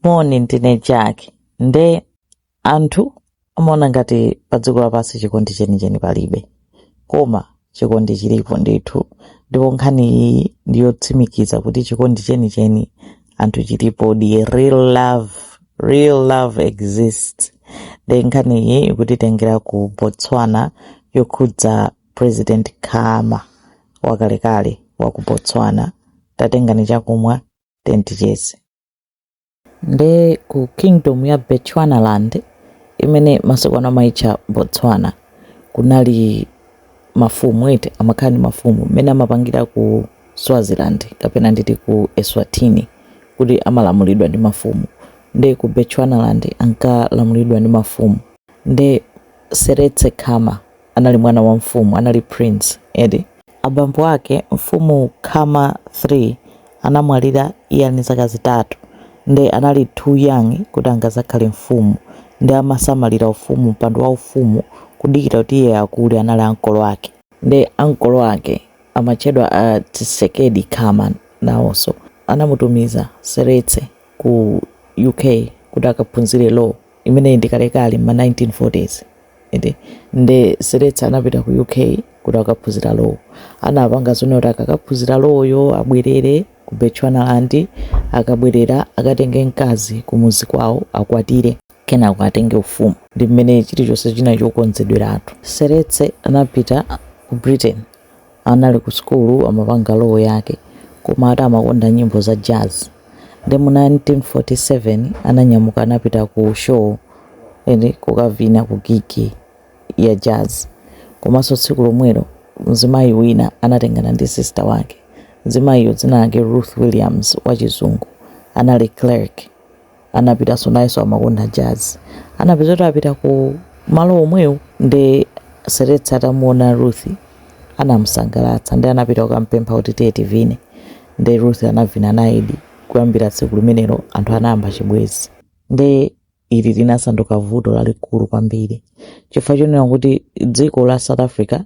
moni ndine jack nde anthu amaona ngati pa dziko lapansi chikondi chenicheni palibe koma chikondi chilipo ndithu ndipo nkhani iyi ndiyotsimikiza kuti chikondi chenicheni anthu chilipo the real love real love exists nde nkhani iyi ikutitengera ku botswana yokhudza president khama wakalekale wa ku botswana tatengani chakumwa tentichese nde ku kingdom ya Bechuanaland imene masiku ano amaitcha Botswana kunali mafumu eti amakhala ndi mafumu mmene amapangira ku Swaziland kapena nditi ku Eswatini kuti amalamulidwa ndi mafumu nde ku Bechuanaland ankalamulidwa ndi mafumu nde Seretse Khama anali mwana wa mfumu, anali prince, eti? Abambo ake, mfumu Khama 3, anamwalira iye ali ndi zaka zitatu, nde anali too young kuti angazakhale mfumu, nde amasamalira ufumu, mpando wa ufumu, kudikira kuti iye akule, anali ankolo ake. Nde ankolo ake, amatchedwa a Tshekedi Khama, nawonso anamutumiza, Seretse, ku UK kuti akaphunzire law, imeneyi ndi kalekale, mma 1940's. Nde Seretse anapita ku UK kuti akaphunzira Law. Anapanga zonena kuti akakaphunzira Law yo abwerere ku Bechuanaland, akabwerera akatenge mkazi kumudzi kwawo akwatire, kenako atenge ufumu. Ndi mmene chilichonse chinali chokonzedweratu. Seretse anapita ku Britain anali ku sukulu amapanga law yake koma ati amakonda nyimbo za jazz nde mu 1947 ananyamuka anapita ku show kukavina ku gigi ya jazz komanso tsiku lomwelo mzimayi wina anatengana ndi sister wake mzimayiyo dzina lake ruth williams wachizungu anali clerk anapitaso nayeso amakonda jazz anapeza kuti apita ku malo omwewo nde seretse atamuona ruth anamusangalatsa nde anapita kukampempha kuti tiye tivine nde ruth anavina nayedi kuyambira tsiku limenelo anthu anayamba chibwezi nde ili linasanduka vuto lalikulu kwambiri chifukwa chonena kuti dziko la south africa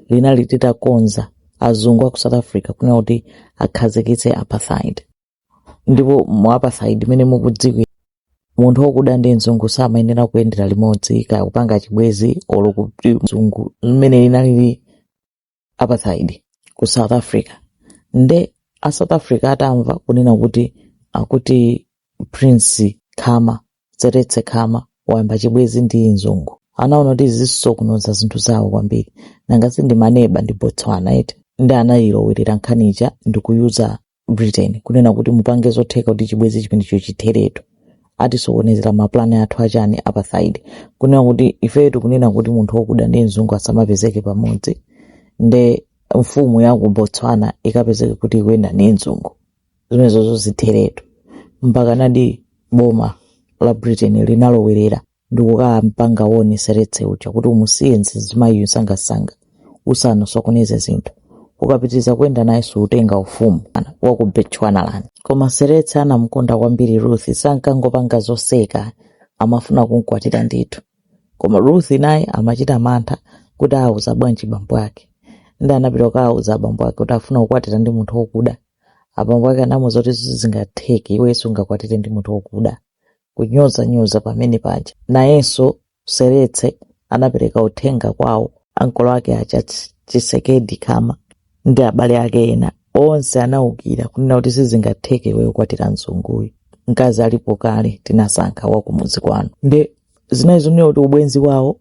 linali litakonza azungu a ku south africa kunena kuti akhazikitse apartheid ndipo mu apartheid mmene mukudziwira munthu wokuda ndi mzungu samayenera kuyendera limodzi kaya kupanga chibwezi olo kuti mzungu mmene inalili apartheid ku south africa nde a south africa atamva kunena kuti akuti prince khama seretse khama wayamba chibwezi ndi mzungu anaona kuti zisokoneza zinthu zawo kwambiri nanga si ndi maneba ndi botswana eti nde anayilowerera nkhani ija ndikuuza britain kunena kuti mupange zotheka kuti chibwezi chimenecho chitheretu atisokonezera maplani athu achani apartheid kunena kuti ifetu kunena kuti munthu wokuda ndi mzungu asamapezeke pamodzi nde mfumu ya ku botswana ikapezeke kuti ikuyenda ndi mzungu zimenezo zitheretu mpaka nadi boma la britain linalowerera ndi kukampanga warn Seretse uja kuti umusiye mzimayiyo sangasanga usanosokoneze zinthu ukapitiriza kuyenda naye suutenga ufumu wa ku Bechuanaland koma seretse anamkonda kwambiri ruth sankangopanga zoseka amafuna kumkwatira ndithu koma ruth naye amachita mantha kuti auza bwanji bambo ake nde anapita kukauza abambo ake kuti afuna kukwatira ndi munthu wokuda abambo ake anamuuza kuti sizingatheke iwe sungakwatire ndi munthu wokuda kunyozanyoza pamene paja. Nayenso Seretse anapereka uthenga kwawo ankolo ake aja Tshekedi Khama ndi abale ake ena onse anaukira kunena kuti sizingatheke iweyo kukwatira mzunguyu mkazi alipo kale tinasankha wakumudzi kwanu nde zinali zonena kuti ubwenzi wawo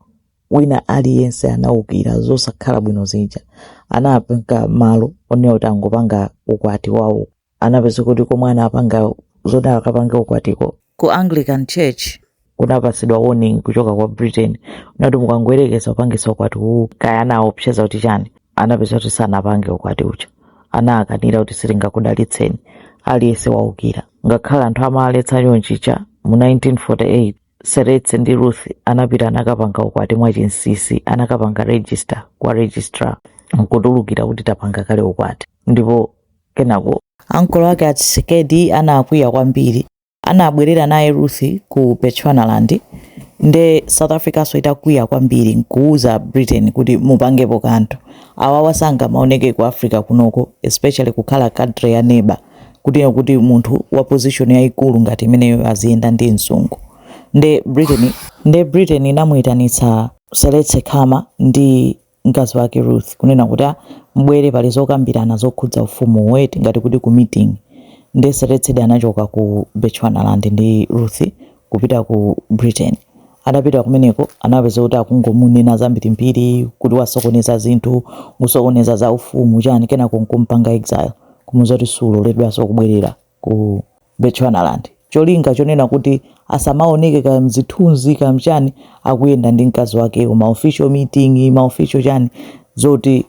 wina aliyense anaukira zosakhala bwino zija anapanga mwano onena kuti angopanga ukwati wawo anapeza kuti komwe anapanga zoti akapange ukwatiko ku anglican church kunapatsidwa warning kuchoka kwa britain unati mukangoyerekeza kupangitsa ukwati uwu kaya anaopseza kuti chani anapeza kuti sanapange ukwati uja anakanira kuti sitingakudalitseni aliyense waukira ngakhale anthu amaletsa chonchija mu 1948 seretse ndi ruth anapita anakapanga ukwati mwachinsinsi anakapanga register kwa registrar nkutulukira kuti tapanga kale ukwati ndipo Kenako ankolo ake a Tshekedi anakwiya kwambiri, anabwerera naye Ruth ku Bechuanaland nde South Africanso itakwiya kwambiri nkuuza Britain kuti mupangepo kanthu. Awawa sangamaoneke ku Africa kunoko especially kukhala country ya neighbour kutino kuti munthu wa position yaikulu ngati imeneyo aziyenda ndi mzungu. Nde Britain, nde Britain inamuitanitsa Seretse Khama ndi mkazi wake Ruth kunena kuti ah, mubwere pali zokambirana zokhudza ufumu wati ngati kuti ku meeting nde Seretse anachoka ku Bechuanaland ndi Ruth kupita ku Britain atapita kumeneko anapeza kuti akungomunena zambirimbiri kuti wasokoneza zinthu kusokoneza za ufumu chani kenako nkumpanga exile kumuza kuti suloledwanso kubwerera ku Bechuanaland. Cholinga chonena kuti asamaoneke kaya mzithunzi kaya mchani akuyenda ndi mkazi wakeyo ma official meeting, ma official chani zoti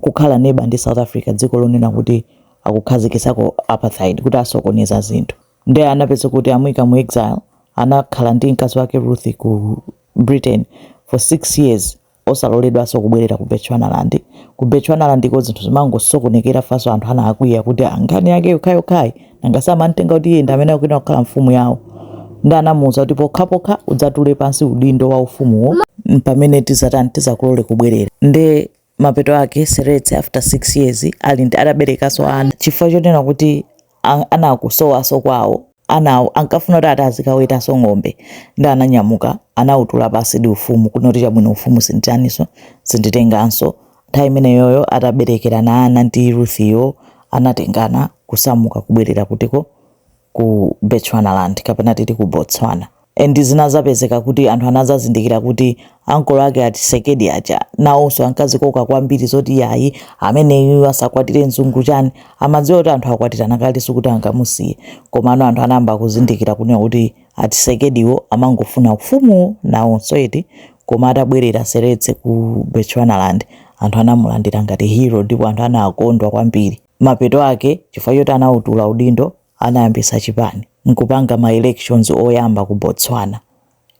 kukhala neighbour ndi South Africa dziko lonena kuti akukhazikitsako apartheid kuti asokoneza zinthu. Nde anapeza kuti amuika mu exile anakhala ndi mkazi wake Ruth ku Britain for 6 years osaloledwaso kubwerera ku Bechuanaland ku Bechuanaland ko zinthu zimangosokonekera faso anthu anakwiya kuti aa nkhani yake yokhayokhayi nanga amamtenga kuti iye ndi amene akuyenera kukhala mfumu yawo ndi anamuwuza kuti pokhapokha udzatule pansi udindo wa ufumuwo pamene tizatani tizakulole kubwerera nde mapeto ake seretse after 6 years ali ataberekaso ana chifukwa chonena kuti a- anakusowaso kwawo anawo ankafuna kuti ati azikawetaso ng'ombe ndi ananyamuka anawutula pansi ndi ufumu kunena kuti chabwino ufumu sinditaniso sinditenganso nthawi imeneyoyo ataberekerana ana ndi ruthiyo anatengana kusamuka kubwerera kutiko ku bechuanaland kapena titi ku botswana And zinadzapezeka kuti anthu anadzazindikira kuti ankolo ake a Tshekedi aja nawonso ankazikoka kwambiri zoti yayi ameneyu asakwatire mzungu chani, amadziwa kuti anthu akwatirana kale sikuti angamusiye. Komano anthu anayamba kuzindikira kunena kuti a Tshekediwo amangofuna ufumuwo nawonso eti. Koma atabwerera Seretse ku Bechuanaland anthu anamulandira ngati hero ndipo anthu anakondwa kwambiri. Mapeto ake, chifukwa choti anautula udindo, anayambisa chipani nkupanga ma elections oyamba ku Botswana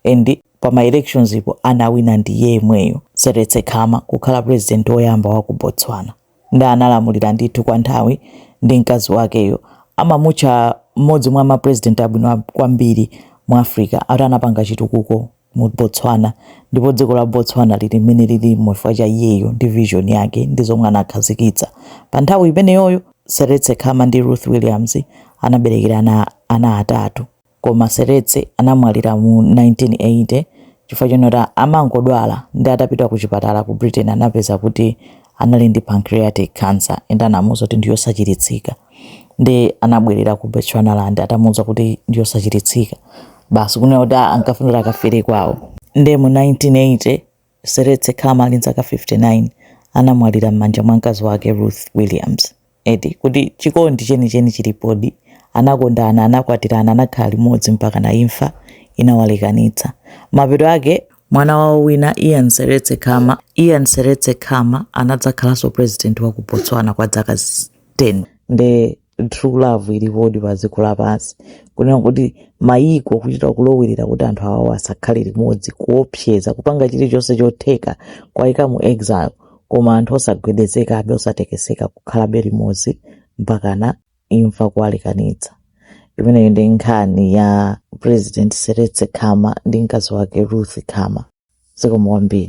and pa ma elections po anawina ndi iye yemweyo Seretse Khama kukhala president oyamba wa ku Botswana nde analamulira ndithu kwa nthawi ndi mkazi wakeyo amamutcha mmodzi mwa ma president abwino kwambiri mu Africa ati anapanga chitukuko mu Botswana ndipo dziko la Botswana lili mmene lilimo chifukwa cha iyeyo ndi vision yake ndi zomwe anakhazikitsa. Pa nthawi imeneyoyo, Seretse Khama ndi Ruth Williams anaberekera ana atatu. Koma Seretse anamwalira mu 1980 chifukwa chonena kuti amangodwala ndi atapita ku chipatala ku Britain anapeza kuti anali ndi pancreatic cancer and anamuuza kuti ndi yosachiritsika. ndi anabwerera ku Bechuanaland atamuuza kuti ndi yosachiritsika basi kunena kuti ah ankafuna kuti akafere kwawo nde mu 1980 seretse khama ali nzaka 59 anamwalira m'manja mwa mkazi wake ruth williams eti kuti chikondi chenicheni chilipodi anakondana anakwatirana anakhala limodzi mpaka na imfa inawalekanitsa mapeto ake mwana wawo wina ian seretse khama anadzakhalanso president wa ku botswana kwa zaka zi- 10 nde true love ilipodi pa dziko lapansi kunena kuti mayiko kuchita kulowerera kuti anthu awawa asakhale limodzi kuopseza kupanga chilichonse chotheka kuwayika mu exile koma anthu osagwedezekabe osatekeseka kukhalabe limodzi mpakana imfa kuwalekanitsa imeneyo ndi nkhani ya president seretse khama ndi mkazi wake ruth khama zikomo kwambiri